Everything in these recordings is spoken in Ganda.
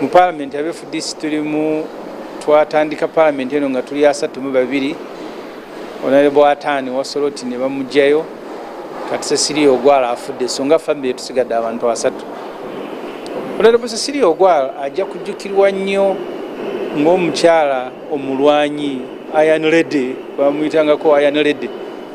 mu palamenti abe fdc tulimu twatandika palamenti eno nga tuli asatu mu babiri onalebo ataani wasoloti ne bamugjayo kati sesiri ogwala afudde so nga famiry tusigadde abantu asatu onalebo sesiri ogwala ajja kujjukirwa nnyo ng'omukyala omulwanyi ayanlede bamuyitangako ayanlede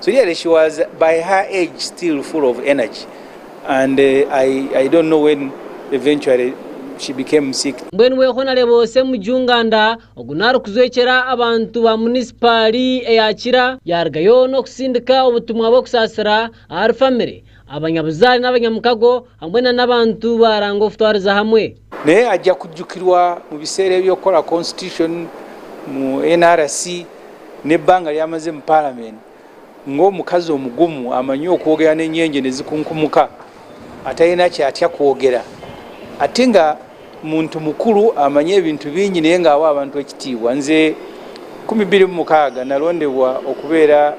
So really she was by her age still full of energy and uh, I, I don't know when eventually she became sick. Mbwenu we Honorable Semu Junganda ogunara kuzwekera abantu ba municipali eyakira yargayo no kusindika obutumwa bwo kusasira our family abanyabuzaale n'abanyamukago hamwe na n'abantu baranga okutwariza hamwe naye ajja kujjukirwa mu biseera ebyokukola constitution mu nrc n'ebbanga lyamaze mu palamenti ng'omukazi omugumu amanyi okwogera n'enyenje ne zikunkumuka atalina kyatya kwogera ate nga muntu mukulu amanyi ebintu bingi naye ng'awa abantu ekitiibwa nze 26 nalondebwa okubeera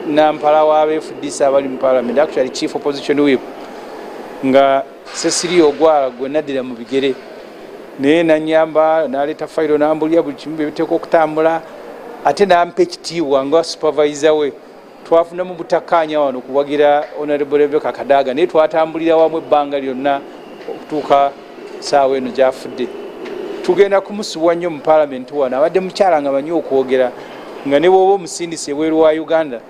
nampala w'abefudisa abali mu palamenti actually chief opposition wip nga sesiri ogwala gwe naddira mu bigere naye nanyamba naleeta fayiro nambulira buli kimu byebiteeka okutambula ate nampa ekitiibwa nga supervise we twafunamu butakkaanya wano kuwagira honorable rebeka kadaaga naye twatambulira wamu ebbanga lyonna okutuuka saawa eno gyafudde tugenda kumusubwa nnyo mu palamenti wano abadde mukyala nga manyi okwogera nga ne bwoba omusindisi ebweru wa uganda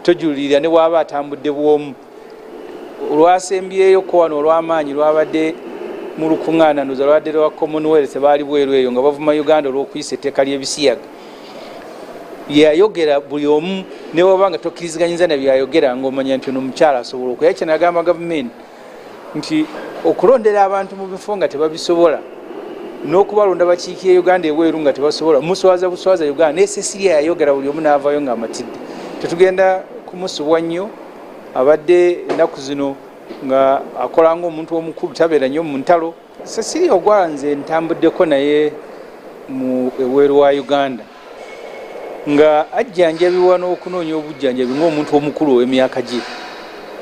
tojulirira ne bwaba atambudde bwomu olwasembyeyo ko wano olw'amaanyi lwabadde mu lukuŋŋaana ndoza lwabadde lwa commonwealth baali bweru eyo nga bavuma uganda olw'okuyisa etteeka ly'ebisiyaga yeyayogera buli omu newaba nga tokkiriziganyiza na byayogera ngaomanya nti ono omukyala asobola okuya kye nagamba gavumenti nti okulondera abantu mu bifo nga tebabisobola n'okubalonda bakiikira e uganda ebweru nga tebasobola muswaza buswaza uganda nesesirya yayogera buli omu n'avayo ng'amatidde tetugenda kumusubwa nnyo abadde ennaku zino nga akola ngaomuntu omukulu tabeera nnyo mu ntalo sesiri ogwala nze ntambuddeko naye mu eweeru wa uganda nga ajjanjabibwa n'okunoonya obujjanjabi ngaomuntu omukulu ow'emyaka gye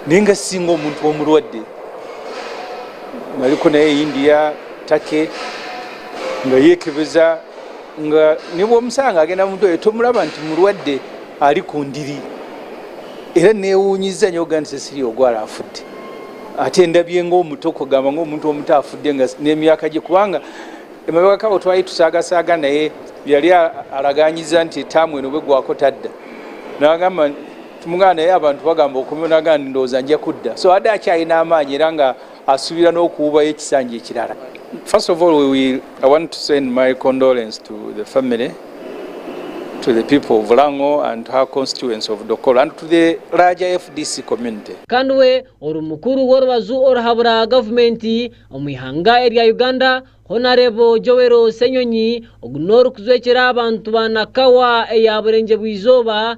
naye nga singa omuntu omulwadde naliko naye india take nga yeekebeza nga ne bwomusanga agenda mu ddwaliro tomulaba nti mulwadde ali ku ndiri era newuunyiza nyo ogandi sesiri ogwala afudde ate ndabye ngaomuto kugamba ngaomuntu omuto afudde nga n'emyaka gye kubanga emabegakawo twali tusaagasaaga naye yali alaganyiza nti etaamu eno bwegwako tadda nagamba tumugana naye abantu bagamba okumnaga ndowooza nja kudda so adde akyalina amaanyi era nga asuubira n'okuwubayo ekisanja ekirala first of all we will, i want to send my condolence to the family to the people of Lango and her constituents of Dokolo and to the larger FDC community. Kanwe oru mukuru w'orubazu oruhabura gavumenti omu ihanga erya Uganda Honorable Joel Senyonyi ogu n'orikuzwekyera abantu ba Nakawa eya Burengyebwizooba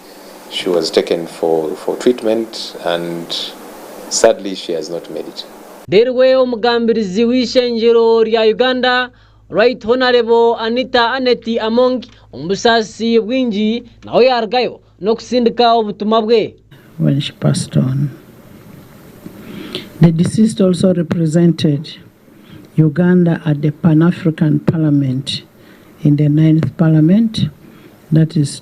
She was taken for, for treatment and sadly she has not made it. Derwe omugambirizi w'ishenjero rya Uganda Right Honorable Anita Aneti Among omusasi bwingi nawe yargayo no kusindika obutumwa bwe. When she passed on, the deceased also represented Uganda at the Pan-African Parliament in the ninth parliament that is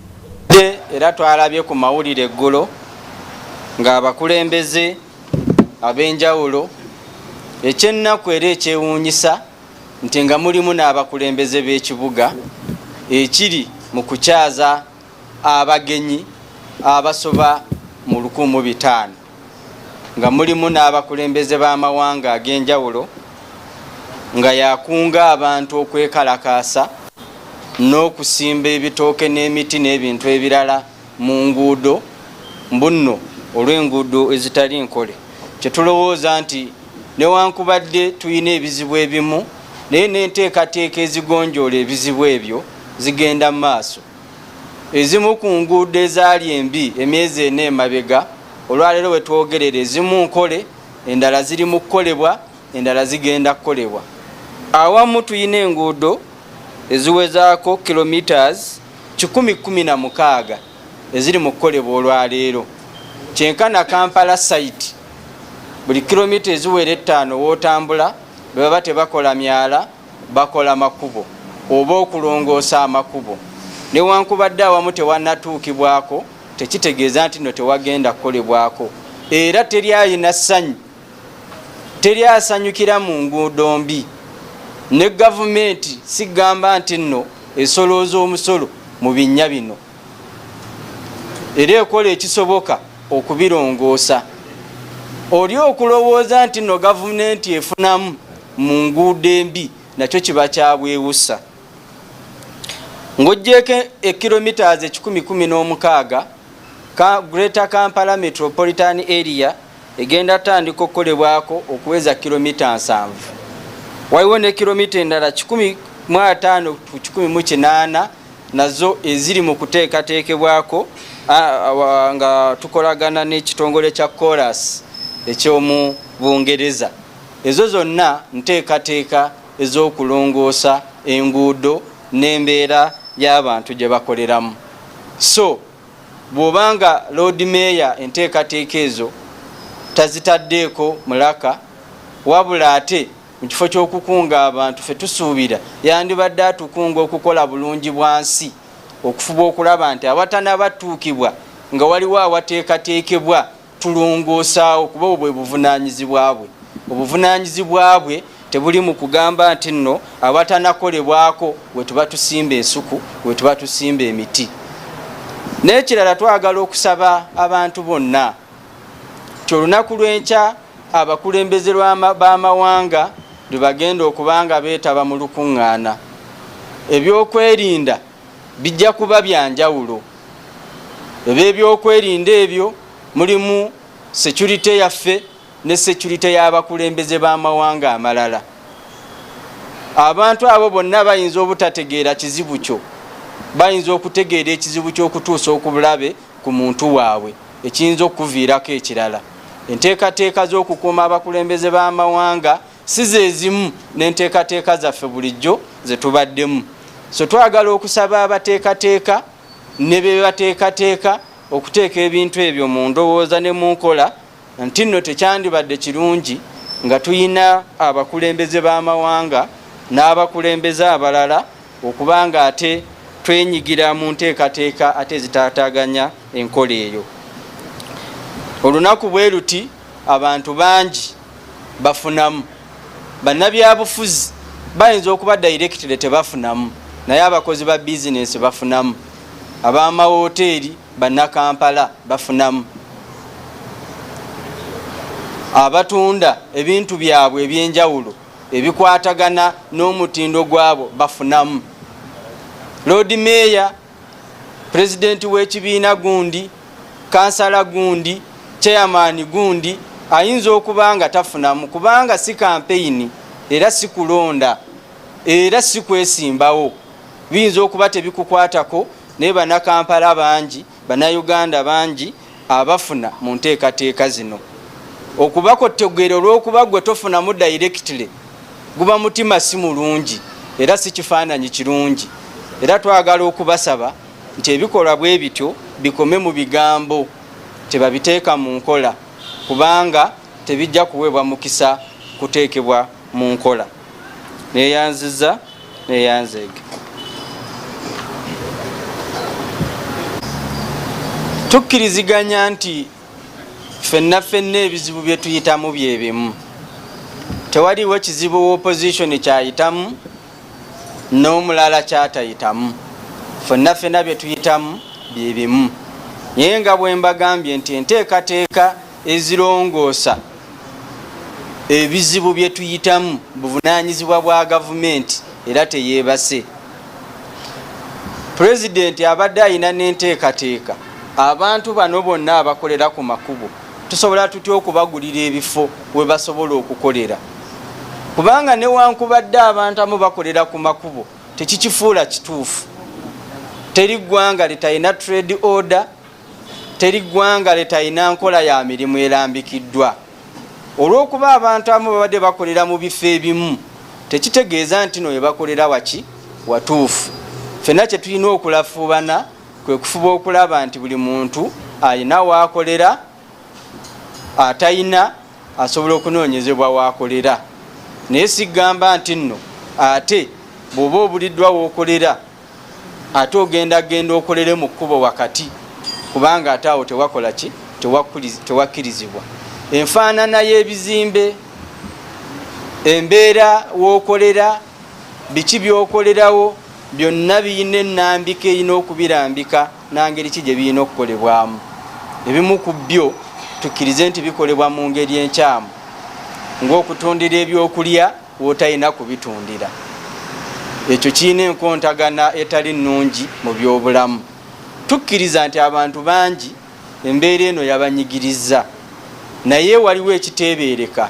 era twalabye ku mawulire eggulo ng'abakulembeze ab'enjawulo ekyennaku era ekyewuunyisa nti nga mulimu n'abakulembeze b'ekibuga ekiri mu kukyaza abagenyi abasoba mu 15 nga mulimu n'abakulembeze b'amawanga ag'enjawulo nga yakunga abantu okwekalakaasa n'okusimba ebitooke n'emiti n'ebintu ebirala mu nguudo mbunno olw'enguudo ezitali nkole kyetulowooza nti newankubadde tulina ebizibu ebimu naye n'enteekateeka ezigonjoola ebizibu ebyo zigenda mu maaso Ezimu ku nguudo ezaali embi emyezi ena emabega olwaleero we twogerera ezimu nkole, endala ziri mu kukolebwa, endala zigenda kukolebwa. Awamu tulina enguudo eziwezaako kilometres kikumi kkumi na mukaaga eziri mu kukolebwa olwaleero. Kyenkana Kampala site buli kilomita eziwera ettaano w'otambula bwe baba tebakola myala bakola makubo oba okulongoosa amakubo newankubadde awamu tewanatuukibwako tekitegeeza nti no tewagenda kukolebwako era teri ayina ssanyu teri asanyukira mu nguudo mbi ne gavumenti sigamba nti nno esolooza omusolo mu binnya bino era ekola ekisoboka okubirongoosa oli okulowooza nti no gavumenti efunamu mu nguudo embi nakyo kiba kyabwewusa ng'ogyeko ekilomitas ekikumi kumi n'omukaaga greater kampala metropolitan area egenda tandika okukolebwako okuweza kilomita nsanvu waliwo ne kilomita endala kikumi mu ataano ku kikumi mu kinaana nazo eziri mu kuteekateekebwako nga tukolagana n'ekitongole kya coras ekyomu bungereza ezo zonna nteekateeka ez'okulongoosa enguudo n'embeera y'abantu gye bakoleramu so bw'obanga loodi meeya enteekateeka ezo tazitaddeeko mulaka wabula ate mu kifo ky'okukunga abantu fe tusuubira yandibadde atukunga okukola bulungi bwa nsi okufuba okulaba nti awatanabatuukibwa nga waliwo awateekateekebwa tulongoosaawo kuba obwo bwe buvunaanyizibwa bwe obuvunaanyizibwa bwe tebuli mu kugamba nti nno awatanakolebwako we tuba tusimba ensuku we tuba tusimba emiti n'ekirala twagala okusaba abantu bonna ti olunaku lw'enkya abakulembeze b'amawanga lwe bagenda okuba nga beetaba mu lukuŋŋaana. Ebyokwerinda bijja kuba bya njawulo. Eby'ebyokwerinda ebyo mulimu securite yaffe ne securite y'abakulembeze b'amawanga amalala. Abantu abo bonna bayinza obutategeera kizibu kyo, bayinza okutegeera ekizibu ky'okutuusa okubulabe. ku muntu waabwe ekiyinza okukuviirako ekirala enteekateeka z'okukuuma abakulembeze b'amawanga si zezimu n'enteekateeka zaffe bulijjo ze tubaddemu so twagala okusaba abateekateeka ne be bateekateeka okuteeka ebintu ebyo mu ndowooza ne mu nkola nti nno tekyandibadde kirungi nga tulina abakulembeze b'amawanga n'abakulembeze abalala okuba nga ate twenyigira mu nteekateeka ate ezitaataganya enkola eyo olunaku bwe luti abantu bangi bafunamu bannabyabufuzi bayinza okuba dayirekitire tebafunamu naye abakozi ba bizinensi bafunamu ab'amawoteeri bannakampala bafunamu abatunda ebintu byabwe ebyenjawulo ebikwatagana n'omutindo gwabo bafunamu loodi meeya pulezidenti w'ekibiina gundi kansala gundi chairmani gundi ayinza okuba nga tafunamu kubanga si kampeyini era si kulonda era si kwesimbawo biyinza okuba tebikukwatako naye banakampala bangi banauganda bangi abafuna mu nteekateeka zino okubako tegere olwokuba gwe tofunamu directly guba mutima si mulungi era si kifaananyi kirungi era twagala okubasaba nti ebikolwa bwe bityo bikome mu bigambo tebabiteeka mu nkola kubanga tebijja kuweebwa mukisa kuteekebwa mu nkola neyanziza neyanzeege tukkiriziganya nti fenna fenna ebizibu byetuyitamu byebimu tewaliwo kizibu wa opposition kyayitamu n'omulala kyatayitamu fenna fenna byetuyitamu byebimu naye nga bwembagambye nti enteekateeka ezirongoosa ebizibu bye tuyitamu buvunaanyizibwa bwa gavumenti era teyeebase pulezidenti abadde alina n'enteekateeka abantu bano bonna abakolera ku makubo tusobola tutya okubagulira ebifo we basobola okukolera kubanga newankubadde abantu amu bakolera ku makubo tekikifuula kituufu teri ggwanga litalina trade order teri ggwanga letalina nkola ya mirimu erambikiddwa olw'okuba abantu abamu babadde bakolera mu bifo ebimu tekitegeeza nti no webakolera waki watuufu fenna kyetulina okulafuubana kwe kufuba okulaba nti buli muntu alina waakolera atalina asobola okunoonyezebwa waakolera naye sigamba nti nno ate bw'oba obuliddwa wookolera ate ogenda genda okolere mu kkubo wakati kubanga ate awo tewakola ki tewakkirizibwa enfaanana y'ebizimbe embeera w'okolera biki by'okolerawo byonna birina ennambika erina okubirambika nangeri ki gye birina okukolebwamu ebimu ku byo tukkirize nti bikolebwa mu ngeri enkyamu ng'okutundira ebyokulya w'otalina kubitundira. Ekyo kirina enkontagana etali nnungi mu byobulamu. Tukkiriza nti abantu bangi embeera eno yabanyigirizza, naye waliwo ekiteebeereka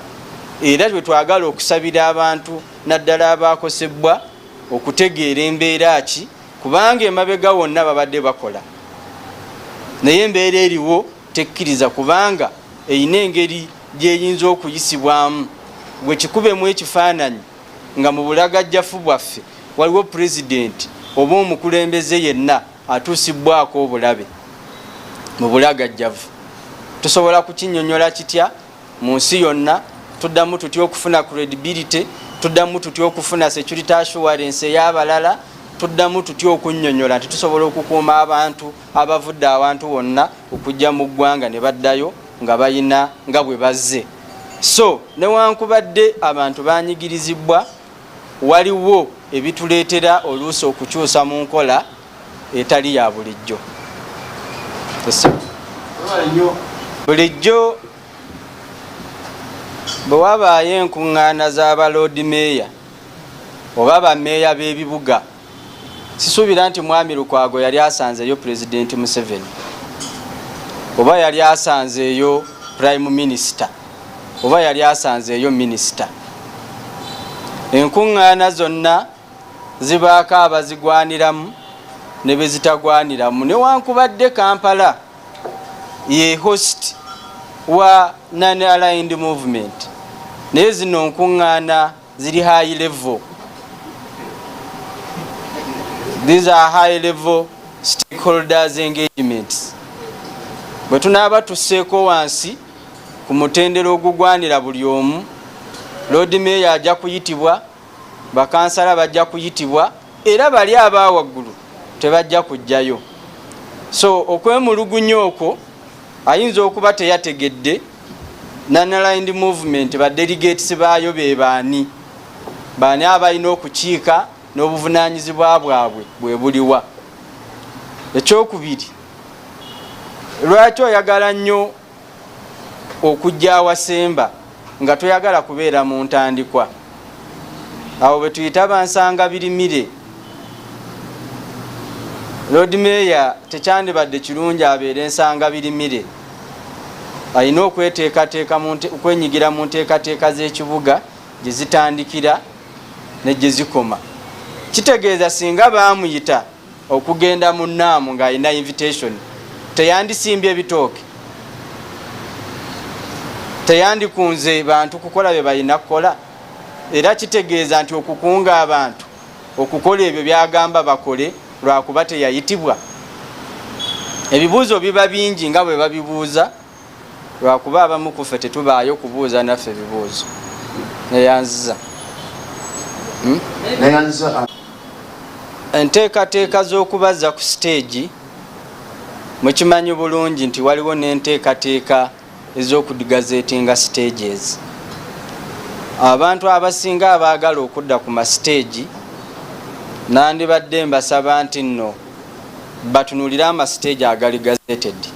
era bwe twagala okusabira abantu naddala abaakosebbwa okutegeera embeera ki kubanga emabega wonna babadde bakola naye embeera eriwo tekkiriza kubanga erina engeri gyeyinza okuyisibwamu gwe kikubemu ekifaananyi nga mu bulagajjafu bwaffe waliwo pulezidenti oba omukulembeze yenna atuusibbwako obulabe mu bulagajjavu tusobola kukinyonyola kitya mu nsi yonna tuddamu tutya okufuna credibility tuddamu tutya okufuna security assurance ey'abalala tuddamu tutya okunyonyola nti tusobola okukuuma abantu abavudde awantu wonna okujja mu ggwanga ne baddayo nga balina nga bwe bazze so newankubadde abantu banyigirizibwa waliwo ebituleetera oluusi okukyusa mu nkola etali ya bulijjo bulijjo bwe wabaayo enkuŋŋaana za baloodi meeya oba bameeya b'ebibuga sisuubira nti mwami lukwago yali asanzeeyo pulezidenti museveni oba yali asanzeeyo prime minisita oba yali asanzeeyo minisita enkuŋŋaana zonna zibaako abazigwaniramu ne be zitagwaniramu newankubadde kampala ye host wa non aligned movement naye zino nkuŋŋaana ziri high level these are high level stakeholders engagements bwe tunaaba tusseeko wansi ku mutendera ogugwanira buli omu loodi meeya ajja kuyitibwa bakansala bajja kuyitibwa era bali aba waggulu tebajja kujjayo so okwemulugunya okwo ayinza okuba teyategedde Nanalined Movement ba delegates baayo be baani? Baani abalina okukiika n'obuvunaanyizibwa bwabwe bwe buliwa? Ekyokubiri, lwaki oyagala nnyo okujja awasemba nga toyagala kubeera mu ntandikwa? Abo be tuyita bansanga birimire. Lord Mayor tekyandibadde kirungi abeere nsanga birimire. alina okweteekateeka okwenyigira mu nteekateeka z'ekibuga gye zitandikira ne gye zikoma kitegeeza singa baamuyita okugenda mu naamu ng'alina invitation teyandisimbye ebitooke teyandikunze bantu kukola bye balina kukola era kitegeeza nti okukunga abantu okukola ebyo byagamba bakole lwakuba teyayitibwa ebibuuzo biba bingi nga bwe babibuuza lwakuba abamu kuffe tetubaayo kubuuza naffe ebibuuzo neyanziza hmm? enteekateeka z'okubaza ku siteegi mukimanyi bulungi nti waliwo n'enteekateeka ez'okugazeetinga stages. Abantu abasinga abaagala okudda ku masiteegi nandibadde mbasaba nti nno batunulire amasiteegi agali gazetedi.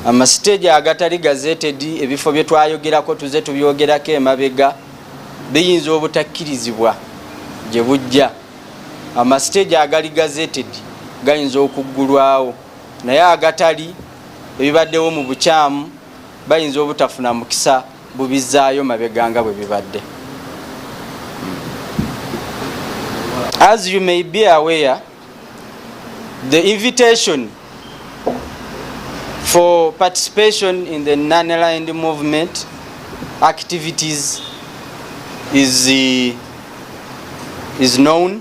Amasiteegi agatali gazetedi ebifo bye twayogerako tuze tubyogerako emabega biyinza obutakkirizibwa gye bujja. Amasiteegi agali gazetedi gayinza okuggulwawo. naye agatali ebibaddewo mu bukyamu bayinza obutafuna mukisa bubizaayo mabega nga bwe bibadde as you may be aware the invitation for participation in the non-aligned movement activities is, uh, is known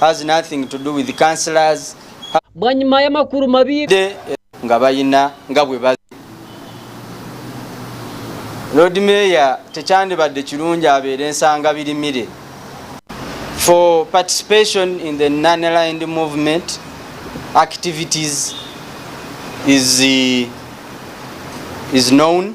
has nothing to do with counselors bwanyuma y'amakulu mabi eh, nga bayina nga bwe ba lord mayor tekyandibadde kirungi abeera ensanga birimire for participation in the nonaligned movement activities is, uh, is known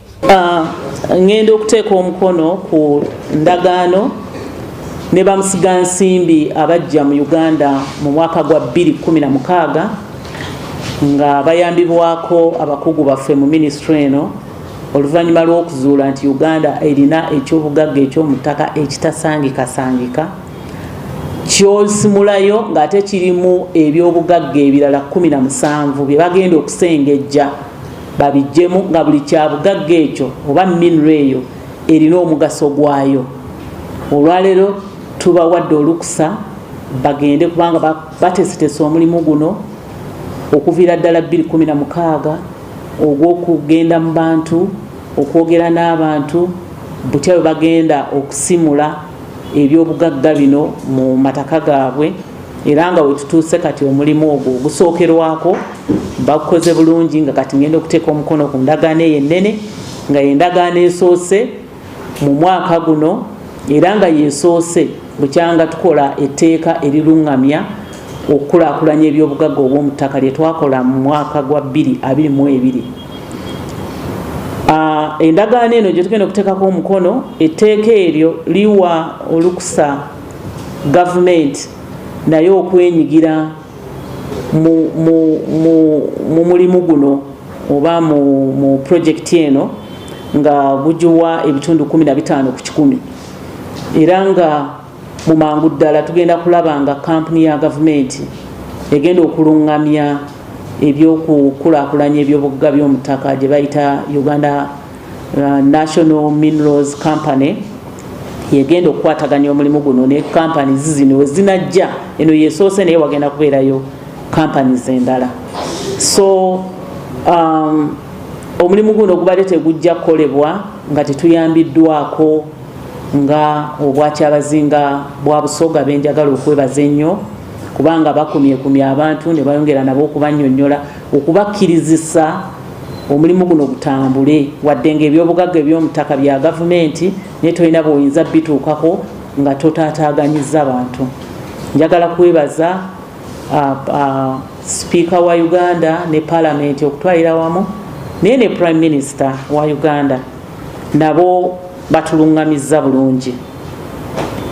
Ah, ŋŋenda okuteeka omukono ku ndagaano ne bamusiga nsimbi abajja mu uganda mu mwaka gwa 216 nga bayambibwako abakugu baffe mu minisitule eno oluvannyuma lw'okuzuula nti uganda erina ekyobugagga ekyomuttaka ekitasangikasangika kyosimulayo ng'ate kirimu ebyobugagga ebirala 17 bye bagenda okusengejja babijjemu nga buli kyabugagga ekyo oba minro eyo erina omugaso gwayo olwaleero tubawadde olukusa bagende kubanga batesetesa omulimu guno okuviira ddala 216 ogw'okugenda mu bantu okwogera n'abantu butya bwe bagenda okusimula ebyobugagga bino mu mataka gaabwe era nga wetutuuse kati omulimu ogwo gusookerwako bakukoze bulungi nga kati ngenda okuteeka omukono ku ndagaano eyo ennene nga yendagaano esoose mu mwaka guno era nga yesoose bukyanga tukola etteeka eriruŋŋamya okukulaakulanya ebyobugagga obw'omu ttaka lye twakola mu mwaka gwa 222 ah, endagaano eno gye tugenda okuteekako omukono etteeka eryo liwa olukusa gavumenti naye okwenyigira mu mulimu guno oba mu purojekiti eno nga gugiwa ebitundu 15 ku kikumi era nga mu mangu ddala tugenda kulaba nga kampuni ya gavumenti egenda okulungamya ebyokukulaakulanya ebyobugga by'omutaka gye bayita uganda uh, national minerals company yegenda okukwataganya omulimu guno ne kampani zizino wezinajja eno yesoose naye wagenda kubeerayo kampani zendala so um, omulimu guno gubadde tegujja kukolebwa nga tetuyambiddwako nga obwakyabazinga bwa busoga benjagala okwebaza ennyo kubanga bakumyekumya abantu ne bayongera nabo okubanyonyola okubakkirizisa omulimu guno gutambule wadde nga ebyobugagga eby'omutaka bya gavumenti naye tolina bwoyinza bituukako nga totaataaganyiza bantu njagala kwebaza sipiika wa uganda ne palamenti okutwalira wamu naye ne prime minister wa uganda nabo batulungamizza bulungi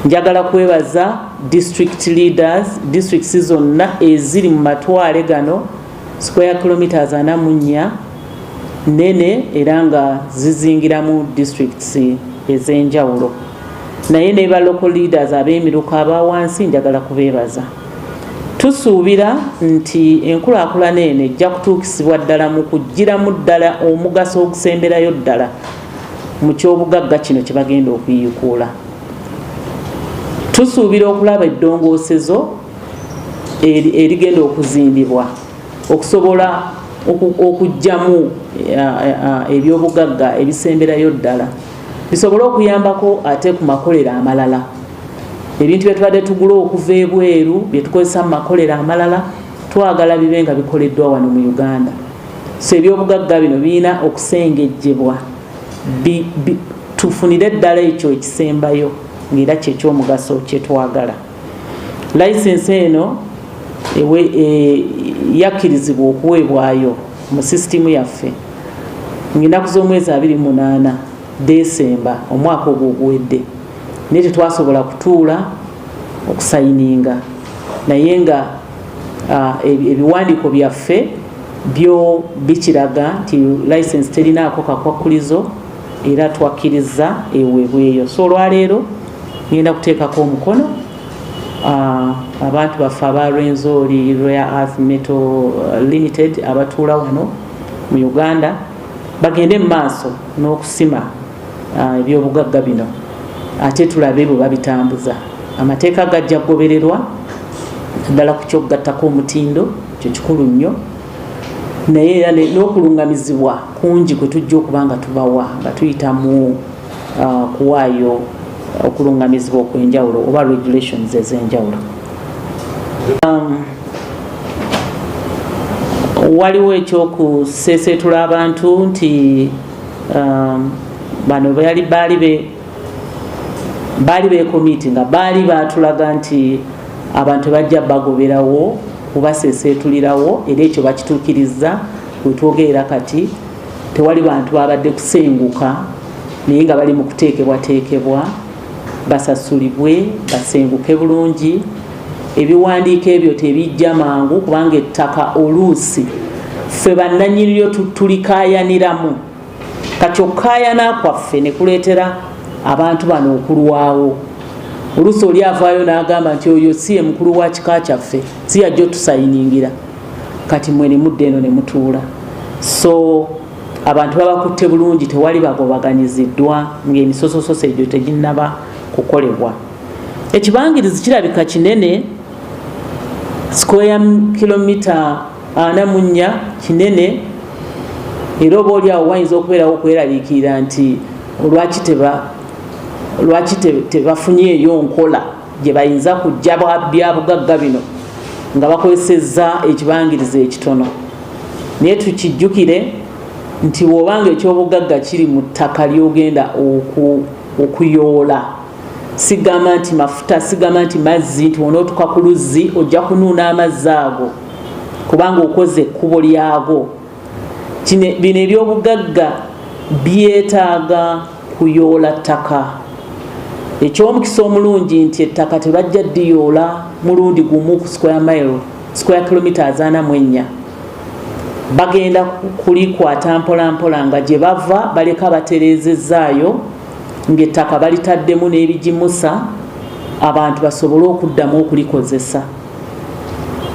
njagala kwebaza district leaders districts zonna eziri mu matwale gano square kilometers ana munya nene era nga zizingiramu districts ez'enjawulo naye ne ba local leaders ab'emiruka aba wansi njagala kubeebaza tusuubira nti enkulaakulana eno ejja kutuukisibwa ddala mu kuggyiramu ddala omugaso ogusemberayo ddala mu kyobugagga kino kye bagenda okuyikuula tusuubira okulaba eddongoosezo erigenda okuzimbibwa okusobola okugyamu ebyobugagga ebisemberayo ddala bisobole okuyambako ate ku makolero amalala ebintu byetubadde tugula okuva ebweru byetukozesa mu makolero amalala twagala bibe nga bikoleddwa wano mu uganda so ebyobugagga bino birina okusengejjebwa tufunire eddala ekyo ekisembayo ngaera kyekyomugaso kyetwagala layisensi eno e, yakkirizibwa okuweebwayo mu sisitimu yaffe ngaenaku z'omwezi 28 desemba omwaka ogwo oguwedde naye tetwasobola kutuula okusayininga naye nga Ah, ebiwandiiko byaffe byo bikiraga nti license terinaako kakwakkulizo era twakkiriza ewebweyo so olwaleero ngenda kuteekako omukono ah, abantu baffe aba rwenzori rare earth metal ah, limited abatuula wano mu uganda bagende mu maaso n'okusima ah, ebyobugagga bino ate tulabe bwe babitambuza amateeka gajja kugobererwa naddala ku kyokugattako omutindo kyo kikulu nnyo naye era n'okulungamizibwa kungi kwe tujja okuba nga tubawa nga tuyita mu ah, kuwaayo okulungamizibwa okwenjawulo oba regulations ezenjawulo um, waliwo ekyokuseeseetula abantu nti um, bano bali baali be baali bekomiti nga baali batulaga nti abantu bajja bagoberawo kubaseseetulirawo era ekyo bakituukirizza wetwogerera kati tewali bantu babadde kusenguka naye nga bali mu kuteekebwateekebwa basasulibwe basenguke bulungi ebiwandiiko ebyo tebijja mangu kubanga ettaka oluusi ffe bannanyiniryo tulikayaniramu kati okukayana kwaffe ne kuleetera abantu bano okulwawo oluusi oli avaayo n'agamba nti oyo si ye mukulu wa kika kyaffe si yajja otusayiningira kati mwe ne mudda eno ne mutuula so abantu babakutte bulungi tewali bagobaganyiziddwa ng'emisosososo egyo teginnaba kukolebwa Ekibangirizi kirabika kinene sikweya kilomita ana mu nnya kinene era oba oli awo wayinza okubeerawo okweraliikirira nti olwaki teba lwaki tebafunyeeyo nkola gye bayinza kujja byabugagga bino nga bakozesezza ekibangiriza ekitono naye tukijjukire nti wobanga ekyobugagga kiri mu ttaka lyogenda okuyoola sigamba nti mafuta sigamba nti mazzi nti onootuka ku luzzi ojja kunuuna amazzi ago kubanga okoze ekkubo lyago bino ebyobugagga byetaaga kuyoola ttaka ekyomukisa omulungi nti ettaka tebajja diyoola mulundi gumu ku square mile square kilometres ana mu ennya bagenda kulikwata mpolampola nga gye bava baleka batereezezzaayo ng'ettaka balitaddemu n'ebigimusa abantu basobole okuddamu okulikozesa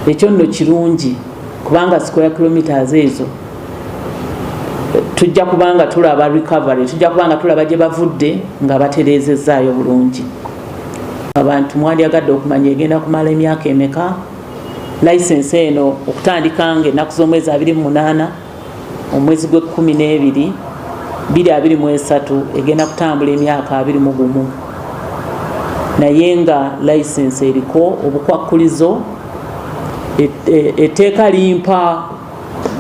ekyo nno kirungi kubanga square kilometres ezo tujja kubanga tulaba recovery tujja kubanga tulaba gye bavudde nga batereezezaayo bulungi abantu mwandyagadde okumanya egenda kumala emyaka emeka license eno okutandika nga ennaku z'omwezi 28 omwezi gw'ekkumi n'ebiri biri abiri mu esatu egenda kutambula emyaka abiri mu gumu naye nga layisinsi eriko obukwakkulizo e, e, etteeka limpa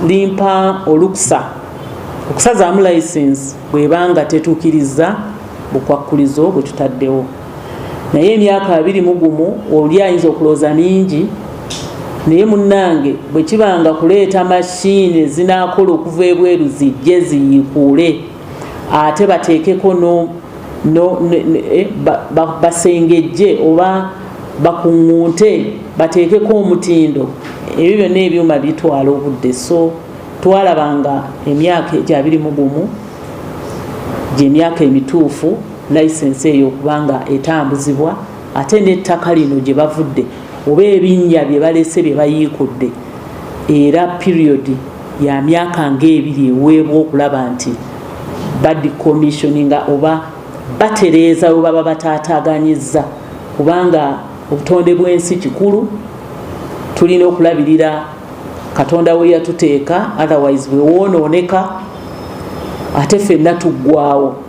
limpa olukusa okusazaamu layisinsi bweba nga tetuukirizza bukwakkulizo bwe tutaddewo naye emyaka abiri mu gumu oli ayinza okulooza mingi naye munnange bwe kiba nga kuleeta mashini ezinaakola okuva ebweru zijje ziyiikuule ate bateekeko eh, basengejje oba bakuŋŋunte bateekeko omutindo ebyo byonna ebyuma bitwala obudde so twalabanga emyaka egyo abiri mu gumu gyemyaka emituufu layisensi eyo okuba nga etambuzibwa ate n'ettaka lino gye bavudde oba ebinnya bye balese bye bayiikudde era piriyodi ya myaka ng'ebiri eweebwa okulaba nti badicommissioninga oba batereeza we baba bataataaganyizza kubanga obutonde bw'ensi kikulu tulina okulabirira katonda we yatuteeka otherwise bwe woonooneka ate fenna tuggwawo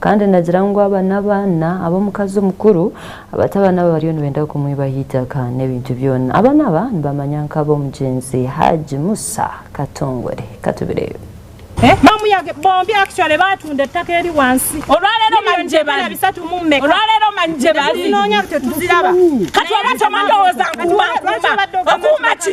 kandi nagira ngu aba n'abaana ab'omukazi omukuru abati abaana abo bariyo nibenda kumwibaho itaka n'ebintu byona abaana aba nibamanya nk'ab'omugyenzi haji musa katongore katubireyo eh, bamuyage bombi actually batunda ettaka eri wansi olwaleero manjebali bisatu mu mmeka olwaleero manjebali zinoonya tetuziraba kati oba tomandowooza nkuba nkuba okuuma ki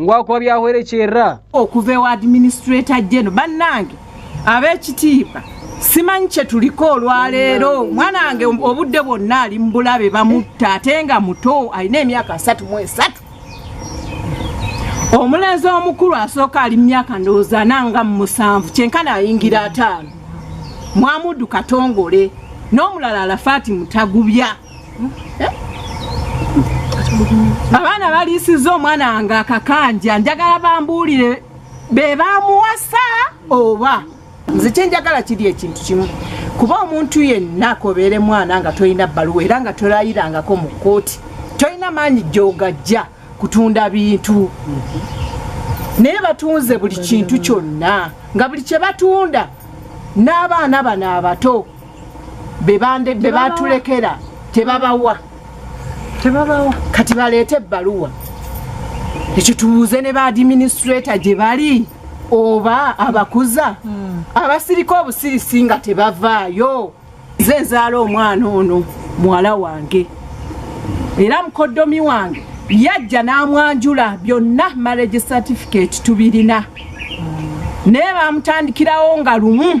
ngwakuba byahwerekyerra okuva ewa administrator geno bannange ab'ekitiibwa simanyi kye tuliko olwaleero mwana wange obudde bwonna ali mu bulabe bamutta ate nga muto alina emyaka asatu mu esatu omulenzi omukulu asooka ali mu myaka ndowooza nanga mu musanvu kyenkana ayingira ataano mwamudu katongole n'omulala alafaati mutagubya abaana baliisiza omwana wange akakanja njagala bambuulire be bamuwasa oba nze kyenjagala kiri ekintu kimu kuba omuntu yenna akobeere mwana nga tolina bbaluwa era nga tolayirangako mu kkooti tolina maanyi gyogajja kutunda bintu naye batunze buli kintu kyonna nga buli kye batunda n'abaana bano abato be batulekera tebabawa tebabawa kati baleete ebbaluwa ekyo tubuuze ne baadiminisitreeta gye bali oba abakuza hmm. abasirika obusirisi nga tebavaayo ze nzaala omwana ono muwala wange era mukoddomi wange yajja n'amwanjula byonna marriage certificate tubirina hmm. naye bamutandikirawo nga lumu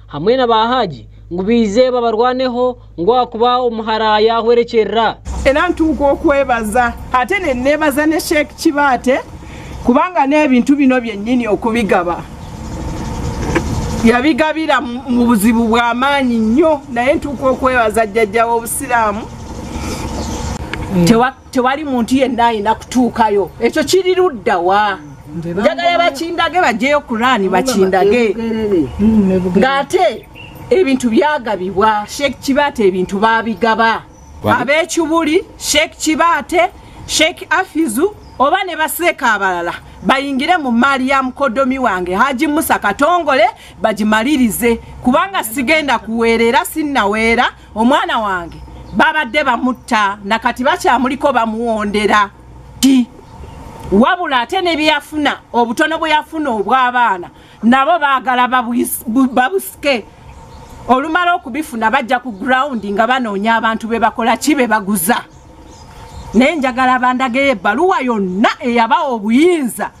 hamwe na ba haji ngu bize babarwaneho ngu akuba omuhara yahwerekyerera era ntuuka okwebaza ate nenebaza ne sheek kibaate kubanga n'ebintu bino byennyini okubigaba yabigabira mu buzibu bw'amaanyi nnyo naye ntuuka okwebaza jjajja w'obusiraamu hmm. tewali muntu yenna alina kutuukayo ekyo kiri ludda wa njagala bakindage bajeyo kurani bakindage ng'ate ebintu byagabibwa sheekh kibaate ebintu babigaba ab'ekibuli sheekh kibaate sheekh afizu oba ne baseeka abalala bayingire mu mmaali ya mukodomi wange haji musa katongole bagimalirize kubanga sigenda kuweera era sinnaweera omwana wange babadde bamutta nakati bakyamuliko bamuwondera ti wabula ate nebyeyafuna obutono bweyafuna obw'abaana nabo baagala babusike olumala okubifuna bajja ku grawundi nga banoonya abantu be bakola ki be baguza naye njagala bandageyo ebbaluwa yonna eyabawa obuyinza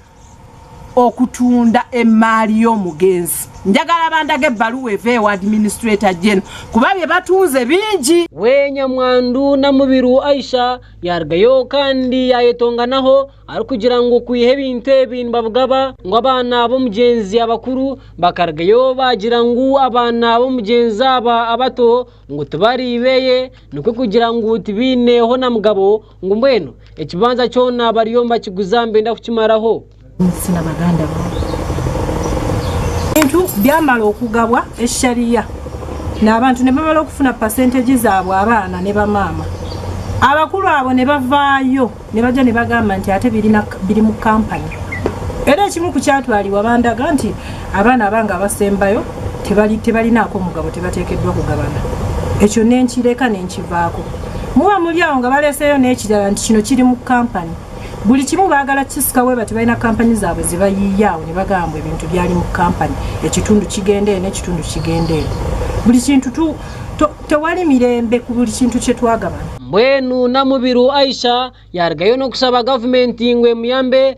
okutunda emmaali y'omugenzi njagala bandaga ebbaluwa eva ewa administrator gen kuba bye batunze bingi wenya mwandu namubiru aisha yargayo kandi yayetonganaho ari kugira ngu kwiha ebintu ebi nibabugaba ngu abaana b'omugenzi abakuru bakargayo bagira ngu abaana b'omugenzi aba abato ngu tibari beye nikwe kugira ngu tibineho na mugabo ngu mbwenu ekibanza kyona bariyo bakiguza mbenda kukimaraho sina baganda bintu byamala okugabwa eshariya n'abantu ne bamala okufuna pasentegi zaabwe abaana ne bamaama abakulu abo ne bavaayo ne bajja ne bagamba nti ate biri mu kampani era ekimu ku kyatwalibwa bandaga nti abaana abange abasembayo tebalinaako mugabo tebateekeddwa kugabana ekyo nenkireka nenkivaako muba muli awo nga baleeseeyo n'ekirala nti kino kiri mu kampani buli kimu baagala kisika weba tebalina kampani zaabwe zebayiiyaawo ne bagamba ebintu byali mu kampani ekitundu kigendeeyo n'ekitundu kigendeeyo buli kintu tewali mirembe ku buli kintu kye twagabana mbwenu namubiru aisha yaligayo n'okusaba gavumenti ngwemuyambe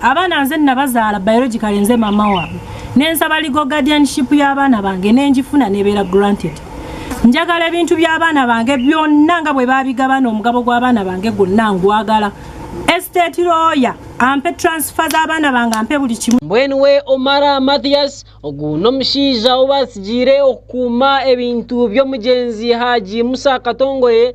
abaana nze nabazaala biologically nze mama waabwe nensaba legal guardianship y'abaana bange nenjifuna nebeera granted njagala ebintu by'abaana bange byonna nga bwe babigabana omugabo gw'abaana bange gwonna ngwagala estate lawyer ampe transfer z'abaana bange ampe buli kimu mbwenuwe omara mathias oguno omushaija obasigire okukuuma ebintu by'omugenzi haji musa katongoye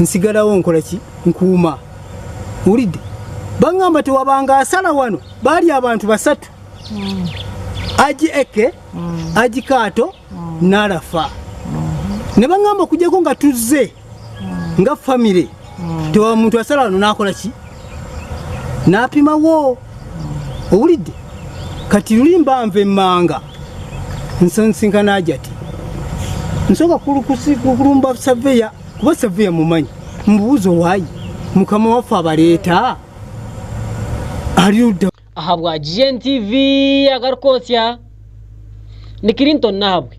nsigalawo nkola ki nkuuma wulidde baŋŋamba tewabanga asala wano baali abantu basatu mm. aji eke mm. aji kaato mm. n'alafa mm-hmm. ne baŋŋamba okujjako nga tuzze mm. nga famire mm. tewa muntu asala wano n'akola ki n'apimawo owulidde kati luli mbanva emmanga nsansinkana ajati nsooka kulumba saveya kuba saveya mumanyi mubuuza owayi mukama waffe abaleeta ali ludda aha bwa gntv agarukosya ni clinton nahabwe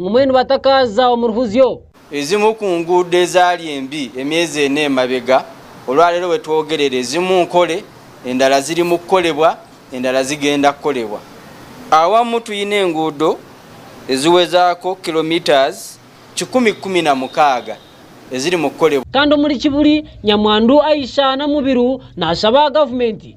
ng'omwenu batakaaza omu ruhuzyo ezimu ku nguudo ezaali embi emyezi ena emabega olwaleero wetwogerera ezimu nkole endala ziri mu kukolebwa endala zigenda kukolebwa awamu tulina enguudo eziwezaako kilometres 116 eziri mu kukolebwa kandi omuli kibuli nyamwandu aisha namubiru nasaba gavumenti